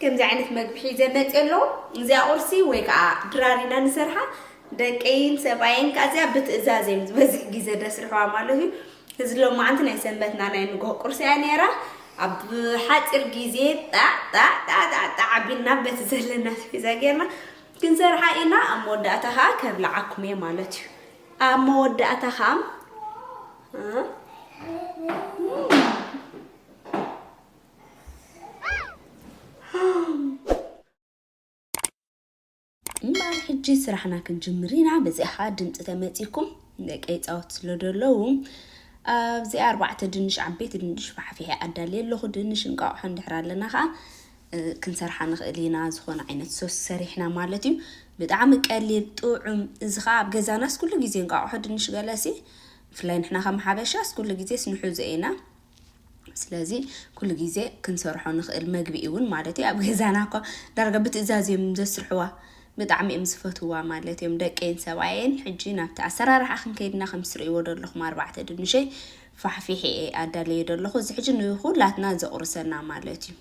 ከምዚ ዓይነት መግቢ ሒዘ መጽየ ኣለኹ እዚኣ ቁርሲ ወይ ከኣ ድራር ኢና ንሰርሓ ደቀይን ሰብኣየን ከኣ እዚኣ ብትእዛዝ እዮም ዝበዝሕ ግዜ ደስርሕዋ ማለት እዩ እዚ ሎማዓንቲ ናይ ሰንበትና ናይ ንግሆ ቁርሲ እያ ነይራ ኣብ ሓፂር ግዜ ጣጣጣጣጣ ዓቢልና በቲ ዘለና ስፒዛ ጌርና ክንሰርሓ ኢና ኣብ መወዳእታ ከዓ ከብልዓኩም እየ ማለት እዩ ኣብ መወዳእታ ከዓ እምበኣር ሕጂ ስራሕና ክንጅምር ኢና በዚኣ ከዓ ድምፂ ተመፂኩም ደቂ ይፃወት ስለ ዘለዉ ኣብዚኣ ኣርባዕተ ድንሽ ዓበይቲ ድንሽ ፋሕፊሐ ኣዳልየ ኣለኹ ድንሽ እንቃቑሖ እንድሕር ኣለና ከዓ ክንሰርሓ ንኽእል ኢና ዝኾነ ዓይነት ሶስ ሰሪሕና ማለት እዩ ብጣዕሚ ቀሊል ጥዑም እዚ ከዓ ኣብ ገዛናስ ኩሉ ግዜ እንቃቑሖ ድንሽ ገለሲ ብፍላይ ንሕና ከም ሓበሻስ ኩሉ ግዜስ ንሕዞ ኢና ስለዚ ኩሉ ግዜ ክንሰርሖ ንኽእል መግቢ እውን ማለት እዩ ኣብ ገዛና እኳ ዳርጋ ብትእዛዝ እዮም ዘስርሕዋ ብጣዕሚ እዮም ዝፈትዋ ማለት እዮም ደቀይን ሰብኣየን ሕጂ ናብቲ ኣሰራርሓ ክንከይድና ከም ትርእይዎ ዘለኹም ኣርባዕተ ድንሸይ ፋሕፊሕ እየ ኣዳለየ ዘለኹ እዚ ሕጂ ንኩላትና ዘቑርሰና ማለት እዩ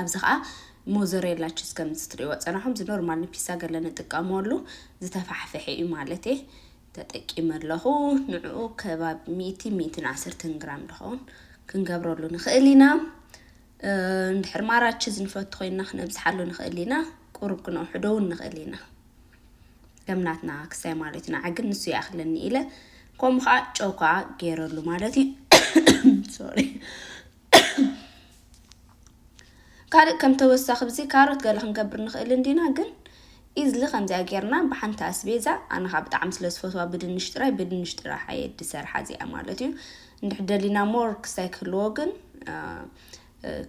ኣብዚ ከዓ ሞዘሬላ ቺዝ ከምዚ ትርእይዎ ፀናሖም እዚ ኖርማል ንፒሳ ገለ ንጥቀመሉ ዝተፋሕፈሐ እዩ ማለት እየ ተጠቂመ ኣለኹ ንዕኡ ከባቢ ሚእቲን ሚእቲን ዓሰርተን ግራም ድኸውን ክንገብረሉ ንኽእል ኢና እንድሕር ማራችዝ ንፈቱ ኮይንና ክነብዝሓሉ ንኽእል ኢና ቁሩብ ክነውሕዶ እውን ንኽእል ኢና ከም ናትና ክሳይ ማለት ኢና ዓግን ንሱ ይኣኽለኒ ኢለ ከምኡ ከዓ ጨው ከዓ ገይረሉ ማለት እዩ ሶሪ ካልእ ከም ተወሳኺ ብዚ ካሮት ገለ ክንገብር ንኽእል እንዲና ግን ኢዝሊ ከምዚኣ ጌርና ብሓንቲ ኣስቤዛ ኣነ ኸዓ ብጣዕሚ ስለ ዝፈትዋ ብድንሽ ጥራይ ብድንሽ ጥራሕ እየ ድሰርሓ እዚኣ ማለት እዩ እንድሕር ደሊና ሞር ክስታይ ክህልዎ ግን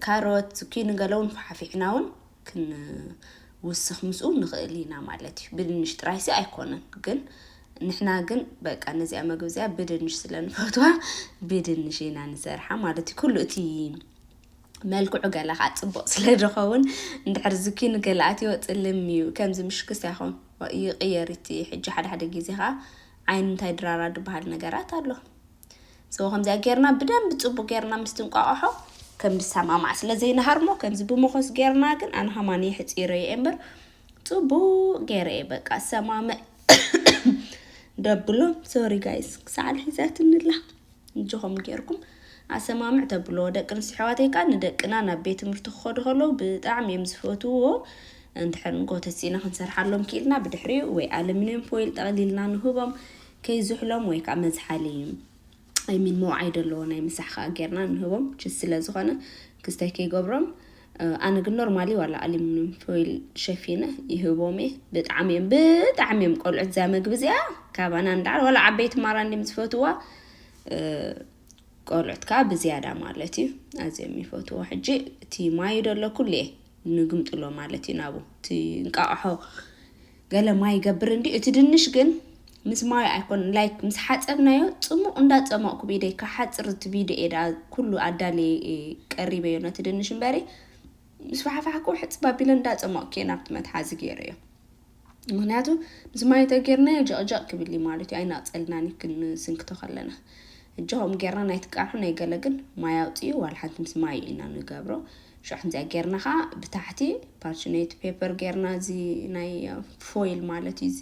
ካሮት ኪኒ ገለ እውን ሓፊሕና እውን ክንውስኽ ምስኡ ንኽእል ኢና ማለት እዩ። ብድንሽ ጥራይሲ ኣይኮነን ግን ንሕና ግን በቃ ነዚኣ መግቢ እዚኣ ብድንሽ ስለ ንፈትዋ ብድንሽ ኢና ንሰርሓ ማለት እዩ። ኩሉ እቲ መልክዑ ገላ ከዓ ፅቡቅ ስለ ዝኸውን እንድሕር ዝኪ ንገላ ኣትዮ ፅልም እዩ ከምዚ ምሽክስ ያኹን ይቕየር እቲ ሕጂ ሓደ ሓደ ግዜ ከዓ ዓይኒ እንታይ ድራራ ድበሃል ነገራት ኣሎ So ከምዚኣ ጌርና ብደንቢ ጽቡቅ ጌርና ምስ ትንቋቆሖ ከም ዝሰማማዕ ስለ ዘይንሃርሞ ከምዚ ብሞኾስ ጌርና ግን ኣነ ከማን የሕጺረ ኢየ እምበር ጽቡቅ ጌረ ኢየ በቃ ሰማምዕ ደብሎ ሶሪ ጋይስ ክሳዕ ሒዛትኒ ኣላ እጆኹም ጌርኩም ኣሰማምዕ ተብሎ ደቂ ኣንስትዮ ኣሕዋተይ ከኣ ንደቅና ናብ ቤት ትምህርቲ ክኸዱ ከለዉ ብጣዕሚ እዮም ዝፈትውዎ እንድሕር ንጎተት ሲና ክንሰርሓሎም ክኢልና ብድሕሪኡ ወይ ኣለሚንየም ፎይል ጠቕሊልና ንህቦም ከይዝሕሎም ወይ ከኣ መዝሓሊ I mean መውዓይ ደለዎ ናይ ምሳሕ ከኣ ጌርና ንህቦም ችስ ስለ ዝኾነ ክስታይ ከይገብሮም ኣነ ግን ኖርማሊ ዋላ ኣሉሚንዩም ፎይል ሸፊነ ይህቦም እየ ብጣዕሚ እዮም ብጣዕሚ እዮም ቆልዑት እዛ መግቢ እዚኣ ካባና እንዳዓል ዋላ ዓበይቲ ማራ እንዲም ዝፈትዋ ቆልዑት ከዓ ብዝያዳ ማለት እዩ ኣዝዮም ይፈትዎ ሕጂ እቲ ማዩ ደሎ ኩሉ እየ ንግምጥሎ ማለት እዩ ናቡ እቲ እንቃቕሖ ገለ ማይ ይገብር እንዲ እቲ ድንሽ ግን ምስ ማዩ ኣይኮን ላይክ ምስ ሓፀብናዮ ፅሙቕ እንዳፀሞቕኩ ብኢደይ ክሓፅር እቲ ቪድዮ እየ ደኣ ኩሉ ኣዳልየ ቀሪበዮ ነቲ ድንሽ እምበሪ ምስ ፋሕፋሕኩ ሕፅብ ኣቢለ እንዳፀሞቕኩ እየ ናብቲ መትሓዚ ገይረዮ ምክንያቱ ምስ ማይ እንተጌርናዮ ጀቕጀቕ ክብል እዩ ማለት እዩ ኣይናቕጸልናን እዩ ክንስንክቶ ከለና እጂ ከምኡ ጌርና ናይ ትቃሑ ናይ ገለ ግን ማይ ኣውጽኡ ዋላ ሓንቲ ምስ ማይ እዩ ኢና ንገብሮ ሽዑ ከምዚኣ ጌርና ከዓ ብታሕቲ ፓርችኔት ፔፐር ጌርና እዚ ናይ ፎይል ማለት እዩ እዚ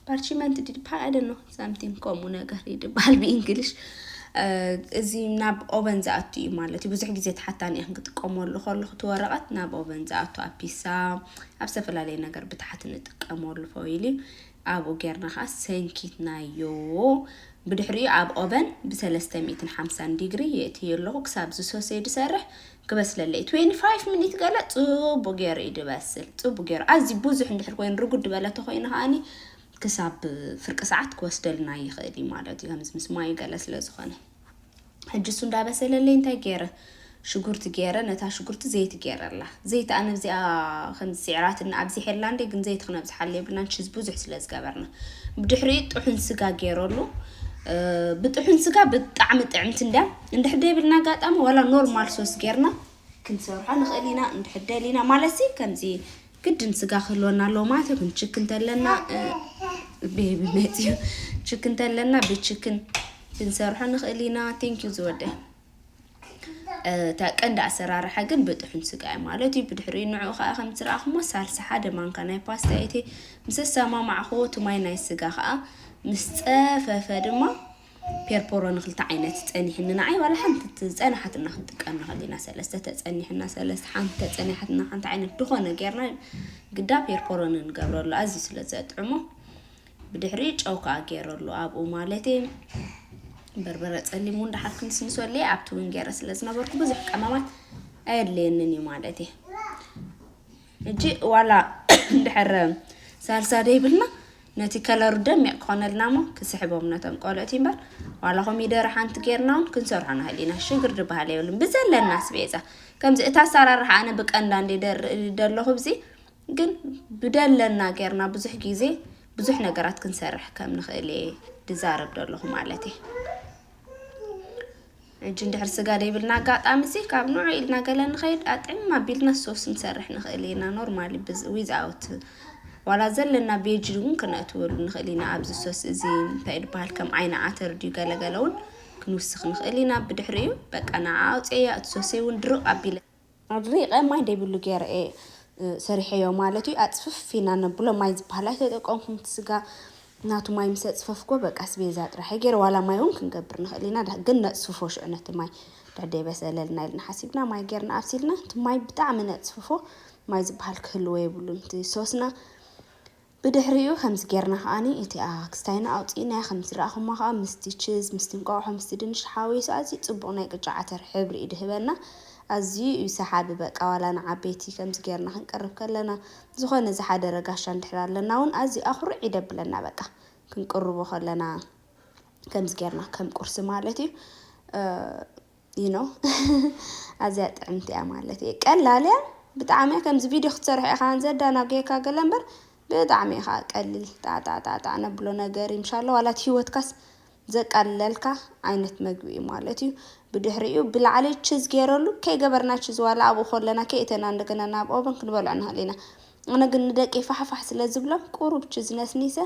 ፓርችመንት ዲድፓ ኣይደኖ ሳምቲንግ ከምኡ ነገር እዩ ድበሃል ብእንግሊሽ እዚ ናብ ኦቨን ዝኣቱ እዩ ማለት እዩ ብዙሕ ግዜ ተሓታኒ እየ ክጥቀመሉ ከለኹ እቲ ወረቐት ናብ ኦቨን ዝኣቱ ኣብ ፒሳ ኣብ ዝተፈላለየ ነገር ብታሕቲ ንጥቀመሉ ፎይል እዩ ኣብኡ ጌርና ከዓ ሰንኪትናዮ ብድሕሪኡ ኣብ ኦቨን ብ350 ዲግሪ የእትዮ ኣለኹ ክሳብ ዝሶሴ ድሰርሕ ክበስለለይ ትዌንቲ ፋይፍ ሚኒት ገለ ጽቡቅ ጌሩ እዩ ድበስል ጽቡቅ ጌሩ ኣዝዩ ቡዙሕ እንድሕር ኮይኑ ርጉድ ድበለ ተኮይኑ ከኣኒ ክሳብ ፍርቂ ሰዓት ክወስደልና ይክእል እዩ ማለት እዩ ከምዚ ምስ ማዩ ገለ ስለ ዝኮነ ሕጂ እሱ እንዳበሰለለይ እንታይ ጌረ ሽጉርቲ ጌረ ነታ ሽጉርቲ ዘይቲ ጌረላ ዘይቲ ኣነ እዚኣ ከምዚ ስዕራትና ኣብዚሐላ እንዴ ግን ዘይቲ ክነብዝሓለ የብልናን ሽዝ ብዙሕ ስለ ዝገበርና ብድሕሪኡ ጥሑን ስጋ ጌረሉ ብጥሑን ስጋ ብጣዕሚ ጥዕምቲ እንዳ እንድሕር ደይብልና ኣጋጣሚ ዋላ ኖርማል ሶስ ጌርና ክንሰርሖ ንኽእል ኢና እንድሕር ደሊና ማለትሲ ከምዚ ግድን ስጋ ክህልወና ኣለዎ ማለት የብሉን ችክ እንተለና ቤቢ መፅዩ ችክ እንተለና ብችክን ክንሰርሖ ንኽእል ኢና ቴንኪዩ ዝወደ እታ ቀንዲ ኣሰራርሓ ግን ብጥሑን ስጋ እዩ ማለት እዩ ብድሕሪ ንዑ ከዓ ከም ትረኣኹሞ ሳልሳ ሓደ ማንካ ናይ ፓስታ እቲ ምስ ኣሰማማዕኹዎ እቲ ማይ ናይ ስጋ ከዓ ምስ ፀፈፈ ድማ ፔርፖሮ ንክልተ ዓይነት ጸኒሕኒ ንዓይ ዋላ ሓንቲ ዝጸነሓትና ክንጥቀም ንክእል ኢና ሰለስተ ተጸኒሕና ሰለስተ ሓንቲ ተጸኒሓትና ሓንቲ ዓይነት ድኾነ ጌርና ግዳ ፔርፖሮ ንገብረሉ ኣዝዩ ስለ ዘጥዕሞ ብድሕሪ ጨው ከዓ ገይረሉ ኣብኡ ማለት እዩ በርበረ ፀሊም እውን ደሓር ክንስንሰሉ እየ ኣብቲ እውን ገይረ ስለ ዝነበርኩ ብዙሕ ቀመማት ኣየድልየንን እዩ ማለት እዩ ሕጂ ዋላ እንድሕር ሳልሳ ደይብልና ነቲ ከለሩ ደሚቅ ክኮነልና እሞ ክስሕቦም ነቶም ቆልዑት እምበር ዋላ ኮሚደረ ሓንቲ ጌርና ውን ክንሰርሖ ንክእል ሽግር ድበሃል የብሉን ብዘለና ስቤዛ ከምዚ እቲ ኣሰራርሓ ኣነ ብቀንዳ እንዲ ደርኢ ደለኹ ብዚ ግን ብደለና ጌርና ብዙሕ ግዜ ብዙሕ ነገራት ክንሰርሕ ከም ንክእል እየ ድዛረብ ደለኹ ማለት እየ ሕጂ እንድሕር ስጋ ደይብልና ኣጋጣሚ'ሲ ካብ ንዑ ኢልና ገለ ንኸይድ ኣጥዕም ኣቢልና ሶስ ክንሰርሕ ንኽእል ኢና ኖርማሊ ብዝ ዊዝ ኣውት ዋላ ዘለና ቬጅ እውን ክነእትወሉ ንኽእል ኢና ኣብዚ ሶስ እዚ እንታይ ድበሃል ከም ዓይኒ ዓተር ድዩ ገለገለ እውን ክንውስኽ ንኽእል ኢና ብድሕሪኡ በቃ ንዓ ኣውፅኤያ እቲ ሶሰይ እውን ድርቕ ኣቢለ ኣድሪቐ ማይ ደይብሉ ገይረ እየ ሰሪሐዮ ማለት እዩ። ኣጽፍፍ ኢና ነብሎ ማይ ዝበሃል ኣይተጠቀምኩን እቲ ስጋ ናቱ ማይ ምስ ኣጽፈፍኩዎ በቃ ኣስቤዛ ጥራሕ እየ ገይረ ዋላ ማይ እውን ክንገብር ንኽእል ኢና ዳ- ግን ነጽፍፎ ሽዑ ነቲ ማይ ድሕር ደይበሰለልና ኢልና ሓሲብና ማይ ገይርና ኣብሲልና እቲ ማይ ብጣዕሚ ነጽፍፎ ማይ ዝበሃል ክህልዎ የብሉን እቲ ሶስና ብድሕሪኡ ከምዚ ጌርና ከኣ እቲኣ ክስታይና ኣውጺእናያ ከምቲ ዝረኣኹማ ከኣ ምስቲ ችዝ ምስቲ እንቋቑሖ ምስቲ ድንሽ ተሓዋዊሱ ኣዝዩ ጽቡቕ ናይ ቅጫ ዓተር ሕብሪ እዩ ድህበና ኣዝዩ እዩ ሰሓቢ በቃ ዋላ ንዓበይቲ ከምዚ ጌርና ክንቅርብ ከለና ዝኾነ ዝሓደረ ጋሻ እንድሕር ኣለና ውን ኣዝዩ ኣኹርዕ ይደብለና በቃ ክንቅርቦ ከለና ከምዚ ጌርና ከም ቁርሲ ማለት እዩ። you know ኣዝያ ጥዕምቲ እያ ማለት እየ ቀላል እያ ብጣዕሚ እያ ከምዚ ቪድዮ ክትሰርሕ ኢኻ ዘዳናጉየካ ገለ እምበር ብጣዕሚ እዩ ከዓ ቀሊል ጣዕጣዕጣዕጣዕ ነብሎ ነገር እዩ ምሻለ ዋላ እቲ ሂወትካስ ዘቃልለልካ ዓይነት መግቢ እዩ ማለት እዩ ብድሕሪኡ ብላዕሊ ችዝ ገይረሉ ከይገበርና ችዝ ዋላ ኣብኡ ከለና ከይእተና እንደገና ናብ ኦቨን ክንበልዖ ንኽእል ኢና ኣነ ግን ንደቂ ፋሕፋሕ ስለ ዝብሎም ቁሩብ ችዝ ነስኒሰ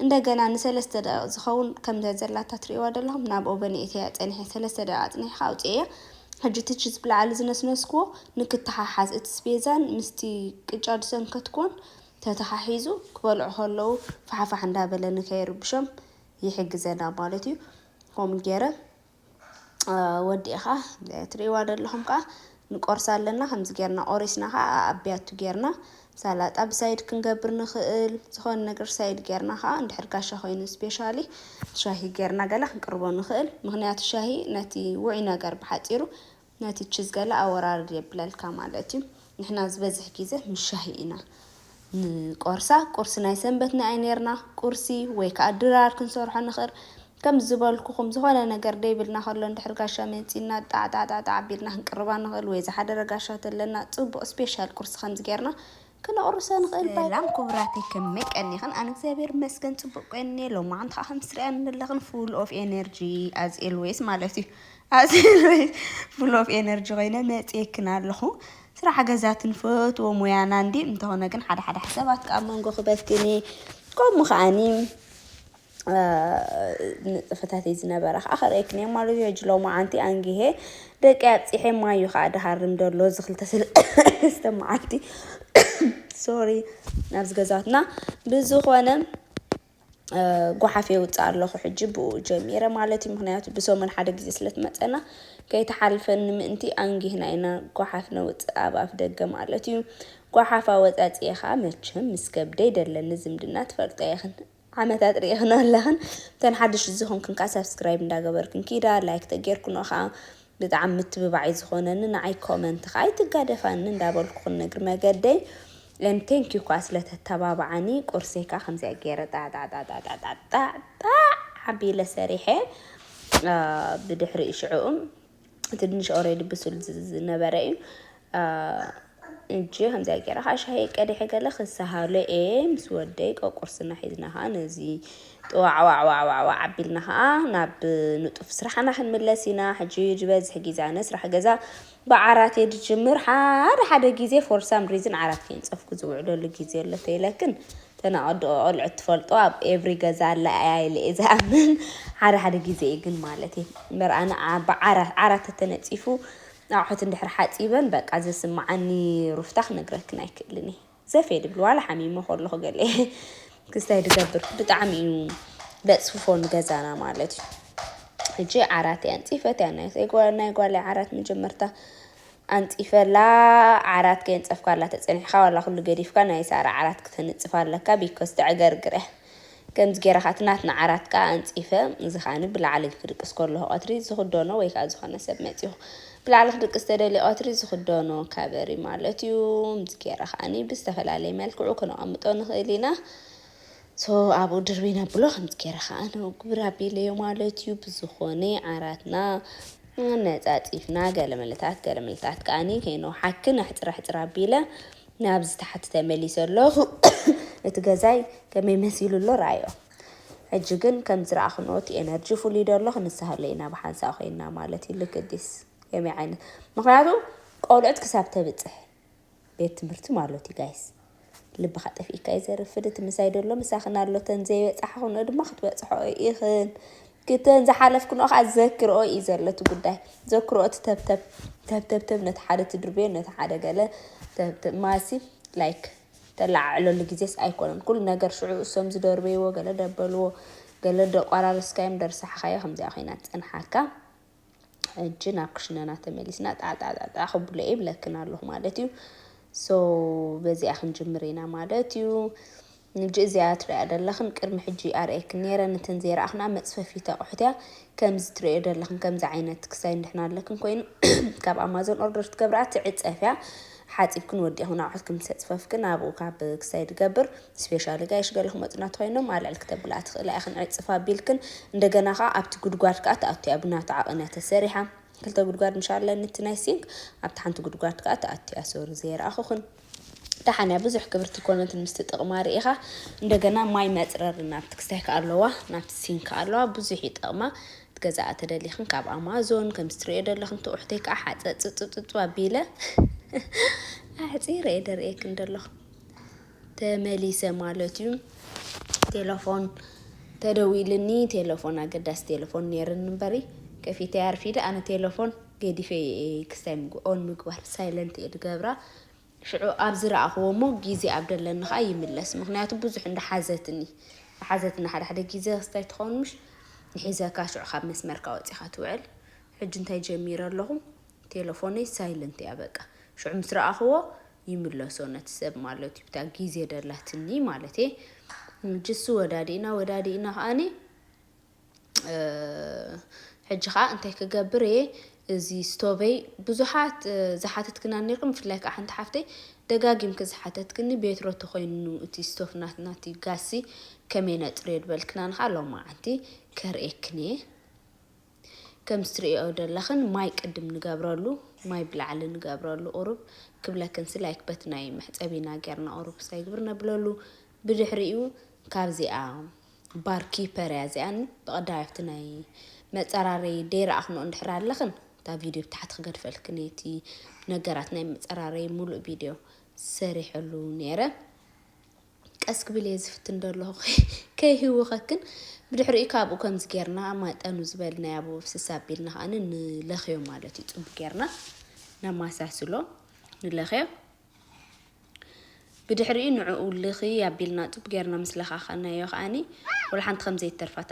እንደገና ንሰለስተ ደቒቕ ዝኸውን ከም ዘዘላታ ትርእይዋ ደለኹም ናብ ኦቨን የእትየያ ጸኒሐ ሰለስተ ደቒቕ ኣጽኒሕካ ኣውጽኤያ ሕጂ እቲ ቺዝ ብላዕሊ ዝነስነስክዎ ንክተሓሓዝ እቲ ስፔዛን ምስቲ ቅጫ ዝሰንከትክዎን ተተሓሒዙ ክበልዑ ከለዉ ፋሕፋሕ እንዳበለ ንከይርብሾም ይሕግዘና ማለት እዩ ከምኡ ጌረ ወዲእኻ ትርእይዋ ዶ ኣለኹም ከኣ ንቆርሳ ኣለና ከምዚ ጌርና ቆሪስና ከኣ ኣብ ቢያቱ ጌርና ሰላጣ ብሳይድ ክንገብር ንኽእል ዝኾነ ነገር ሳይድ ጌርና ከኣ እንድሕር ጋሻ ኮይኑ ስፔሻሊ ሻሂ ጌርና ገለ ክንቅርቦ ንኽእል ምክንያቱ ሻሂ ነቲ ውዑይ ነገር ብሓጺሩ ነቲ ችዝ ገለ ኣወራርድ የብለልካ ማለት እዩ ንሕና ዝበዝሕ ግዜ ምስ ሻሂ ኢና ንቆርሳ ቁርሲ ናይ ሰንበት ናይ ነርና ቁርሲ ወይ ከዓ ድራር ክንሰርሖ ንኽእል ከም ዝበልኩኹም ዝኾነ ነገር ደይብልና ከሎ እንድሕር ጋሻ መፂና ጣዕጣዕጣዕጣዕ ቢልና ክንቅርባ ንኽእል ወይ ዝሓደረ ጋሻ ተለና ፅቡቕ ስፔሻል ቁርሲ ከምዚ ጌርና ክነቑርሰ ንኽእል ባይ። ሰላም ኩቡራተይ ከመይ ቀኒክን ኣነ እግዚኣብሔር ይመስገን ፅቡቅ ቆኒየ ሎማዓንቲ ከዓ ከምቲ ትሪኣኒ ዘለክን ፉል ኦፍ ኤነርጂ ኣዝ ኤልወይስ ማለት እዩ ኣዝ ኤልወይስ ፉል ኦፍ ኤነርጂ ኮይነ መፅየክን ኣለኩ ስራሕ ገዛት ንፈትዎ ሙያና እንዲ እንተኾነ ግን ሓደ ሓደ ሓሳባት ከዓ ኣብ መንጎ ክበትኒ ከምኡ ከዓኒ ንጥፈታተይ ዝነበረ ከኣ ከርእየክንየ ማለት እዩ። ሕጂ ሎማዓንቲ ኣንጊሄ ደቀይ ኣብጺሐ ማይ እዩ ከኣ ድሃርም ደሎ እዚ ክልተ ሰለስተ መዓልቲ ሶሪ ናብዚ ገዛትና ብዝኾነ ጓሓፍ የውጽእ ኣለኹ ሕጂ ብኡ ጀሚረ ማለት እዩ። ምክንያቱ ብሰሙን ሓደ ግዜ ስለ ትመጸና ከይተሓልፈኒ ምእንቲ ኣንጊህና ኢና ጓሓፍ ነውጽእ ኣብ ኣፍ ደገ ማለት እዩ። ጓሓፍ ኣወጻጺኤ ከኣ መቸም ምስ ከብደይ ደለኒ ዝምድና ትፈልጦ ኢኽን። ዓመታት ሪኢክን ኣለክን እተን ሓደሽቲ ዝኮንክን ከኣ ሳብስክራይብ እንዳ ገበርክን ኪዳ ላይክ ተጌርክኖ ከኣ ብጣዕሚ ምትብባዕ እዩ ዝኮነኒ ንዓይ ኮመንት ከኣ ኣይትጋደፋኒ እንዳ በልኩ ክንግር መገደይ and thank you ከኣ ስለ ተተባብዓኒ ቁርሰይ ከኣ ከምዚኣ ጌረ ጣዕጣዕጣዕጣዕጣዕጣዕ ኣቢለ ሰሪሐ ብድሕሪ ሽዑኡ ትንሽ ኦሬዲ ብሱል ዝነበረ እዩ እንጂ ከምዚያ ገይረ ከዓ ሻሂ ቀዲሐ ገለ ክሰሃሎ እየ ምስ ወደይ ቆቁርስና ሒዝና ከዓ ነዚ ጥዋዕዋዕዋዕዋዕ ዓቢልና ከዓ ናብ ንጡፍ ስራሕና ክንምለስ ኢና ሕጂ ዝበዝሕ ግዜ ኣነ ስራሕ ገዛ ብዓራት እየ ዝጅምር ሓደ ሓደ ግዜ ፎር ሳም ሪዝን ዓራት ከይንፀፍኩ ዝውዕለሉ ግዜ ኣሎ ተይለክን ተናቅድኦ ቆልዑት ትፈልጦ ኣብ ኤቭሪ ገዛ ኣላ ኣያ ኢለ እየ ዝኣምን ሓደ ሓደ ግዜ እዩ ግን ማለት እየ እምበር ኣነ ዓብ ዓራት ዓራት ተተነጺፉ ኣቑሑት እንድሕር ሓጺበን በቃ ዘስምዓኒ ሩፍታ ክነግረክን ኣይክእልን እየ ዘፌ ድብል ዋላ ሓሚመ ከለኹ ገለ ክስታይ ድገብር ብጣዕሚ እዩ ለጽፍፎ ንገዛና ማለት እዩ ሕጂ ዓራት እያ ንጺፈት እያ ናይ ጓል ናይ ጓል ዓራት መጀመርታ ኣንጺፈላ ዓራት ከየንጸፍካላ ተጸኒሕካ ዋላ ኩሉ ገዲፍካ ናይ ሳራ ዓራት ክተንጽፋ ኣለካ ቢኮዝ ተዕገርግር እያ ከምዚ ጌረ ካኣ እቲ ናትና ዓራት ካኣ ኣንጺፈ እዚ ካኣኒ ብላዕሊ ክድቅስ ኮለኩ ቀትሪ ዝክደኖ ወይ ካኣ ዝኮነ ሰብ መጺኩ ብላዕሊ ክድቅስ ተደልዩ ቀትሪ ዝክደኖ ካበሪ እዩ ማለት እዩ እዚ ጌረ ካኣኒ ብዝተፈላለየ መልክዑ ክነቀምጦ ንክእል ኢና So ኣብኡ ድርብይ ነብሎ ከምዚ ጌረ ከኣ ንኡ ግብር ኣቢለዮ ማለት እዩ ብዝኾነ ዓራትና ኣነጻጺፍና ገለ ምልታት ገለ ምልታት ከኣኒ ከይንውሓኪ ናሕጽር ኣሕጽር ኣቢለ ናብ ዝተሓቲ ተመሊሰ ኣለኹ እቲ ገዛይ ከመይ መሲሉ ኣሎ ርኣዮ ሕጂ ግን ከም ዝረኣኽንኦ እቲ ኤነርጂ ፍሉይ ዶ ኣሎ ክንሳሃሎ ኢና ብሓንሳእ ኮይንና ማለት እዩ ልክዲስ ከመይ ዓይነት ምክንያቱ ቆልዑት ክሳብ ተብጽሕ ቤት ትምህርቲ ማሎት እዩ ጋይስ ልብኻ ጠፊእካ እዩ ዘርፍድ እቲ ምሳይ ደሎ ምሳኽን ኣሎ ተን ዘይበፃሕኽንኦ ድማ ክትበፅሕኦ ኢኽን ክተን ዝሓለፍክንኦ ከዓ ዘክርኦ እዩ ዘሎ እቲ ጉዳይ ዘክርኦ እቲ ተብተብ ተብተብተብ ነቲ ሓደ ትድርብዮ ነቲ ሓደ ገለ ተብተብ ማሲ ላይክ ተለዓዕለሉ ግዜስ ኣይኮነን ኩሉ ነገር ሽዑ እሶም ዝደርበይዎ ገለ ደበልዎ ገለ ደቋራርስካዮም ደርሳሕኻዮ ከምዚኣ ኮይና ትፀንሓካ ሕጂ ናብ ክሽነና ተመሊስና ጣዕጣዕጣዕጣዕ ክብሎ ይብለክን ኣለኹ ማለት እዩ ሶ በዚኣ ክንጅምር ኢና ማለት እዩ ንጂ እዚኣ ትሪኣ ደለኽን ቅድሚ ሕጂ ኣርእየክን ነይረ ነተን ዘይረኣኽና መፅፈፊት ኣቑሑት እያ ከምዚ ትሪኦ ደለኽን ከምዚ ዓይነት ክሳይ ንድሕና ኣለክን ኮይኑ ካብ ኣማዞን ኦርደር ትገብርኣ ትዕፀፍ እያ ሓፂብክን ወዲእኽን ኣቑሑትክን ምስ ኣፅፈፍክን ኣብኡ ካብ ክሳይ ድገብር ስፔሻሊ ጋይሽ ገለ ክመጹና እንተኾይኖም ኣልዕል ክተብላ ትኽእላ ኢኽን ዕጽፍ ኣቢልክን እንደገና ከኣ ኣብቲ ጉድጓድ ከኣ ተኣቱ እያ ብናቱ ዓቕን እያ ተሰሪሓ ክልተ ጉድጓድ ምሻለ ንቲ ናይ ሲንክ ኣብቲ ሓንቲ ጉድጓድ ከኣ ተኣቱ እያ ሶሪ ዘይረኣኹኽን ደሓን እያ ብዙሕ ክብርቲ ኮነትን ምስቲ ጥቕማ ርኢኻ እንደገና ማይ መጽረሪ ናብቲ ክስታይ ከኣ ኣለዋ ናብቲ ሲንክ ከኣ ኣለዋ ብዙሕ እዩ ጥቕማ ገዛኣ ተደሊኽን ካብ ኣማዞን ከምዚ ትርእዮ ደለኽን ትውሕተይ ከዓ ሓፀፅፅፅፅ ኣቢለ ኣሕፂረ እየ ደርእየክን ደለኹ ተመሊሰ ማለት እዩ ቴለፎን ተደዊልኒ ቴለፎን ኣገዳሲ ቴለፎን ነይርኒ እምበሪ ከፊተያ ኣርፊደ ኣነ ቴለፎን ገዲፈ እየ ክስታይ ምግብ ኦን ምግባር ሳይለንት እየ ድገብራ ሽዑ ኣብ ዝረኣኽዎ እሞ ግዜ ኣብ ደለኒ ከዓ ይምለስ ምክንያቱ ብዙሕ እንዳሓዘትኒ ሓዘትና ሓደ ሓደ ግዜ ክስታይ ትኸውን ምሽ ንሒዘካ ሽዑ ካብ መስመርካ ወፂኻ ትውዕል ሕጂ እንታይ ጀሚረ ኣለኹ ቴለፎነይ ሳይለንት እያ በቃ ሽዑ ምስ ረኣኽዎ ይምለሶ ነቲ ሰብ ማለት እዩ ብታ ግዜ ደላትኒ ማለት እየ ጅሱ ወዳዲእና ወዳዲእና ከኣኒ ሕጂ ከዓ እንታይ ክገብር እየ እዚ ስቶቨይ ብዙሓት ዝሓተትክና ነርኩም ብፍላይ ከዓ ሓንቲ ሓፍተይ ደጋጊምኪ ዝሓተትክኒ ቤትሮ ተኮይኑ እቲ ስቶፍ ናትና እቲ ጋሲ ከመይ ነፅርዮ ድበልክና ንካ ሎማዓንቲ ከርእየክን እየ ከምቲ ትርእየኦ ደለኽን ማይ ቅድም ንገብረሉ ማይ ብላዕሊ ንገብረሉ ቁሩብ ክብለክን ሲ ላይክ በቲ ናይ መሕጸቢ ኢና ጌርና ቁሩብ ክሰግብር ነብለሉ ብድሕሪኡ ካብዚኣ ባር ኪፐር እያ እዚኣ ብቀዳማይ ኣብቲ ናይ መጸራረይ ደይረኣኽንኦ እንድሕር ኣለኽን እታ ቪድዮ ብታሕቲ ክገድፈልክን እየ እቲ ነገራት ናይ መጸራረይ ሙሉእ ቪድዮ ሰሪሐሉ ነይረ ቀስ ክብል እየ ዝፍትን ደለኹ ከይህውኸክን ብድሕሪኡ ከኣ ኣብኡ ከምዚ ጌርና ማጠኑ ዝበልናዮ ኣብኡ ኣፍስስ ኣቢልና ከኣ ንለኽዮ ማለት እዩ ጽቡቅ ጌርና ነማሳስሎ ንለኽዮ ብድሕሪኡ ንዕኡ ልኺ ኣቢልና ጽቡቅ ጌርና ምስ ለኻኸናዮ ከኣኒ ወላ ሓንቲ ከም ዘይተርፋታ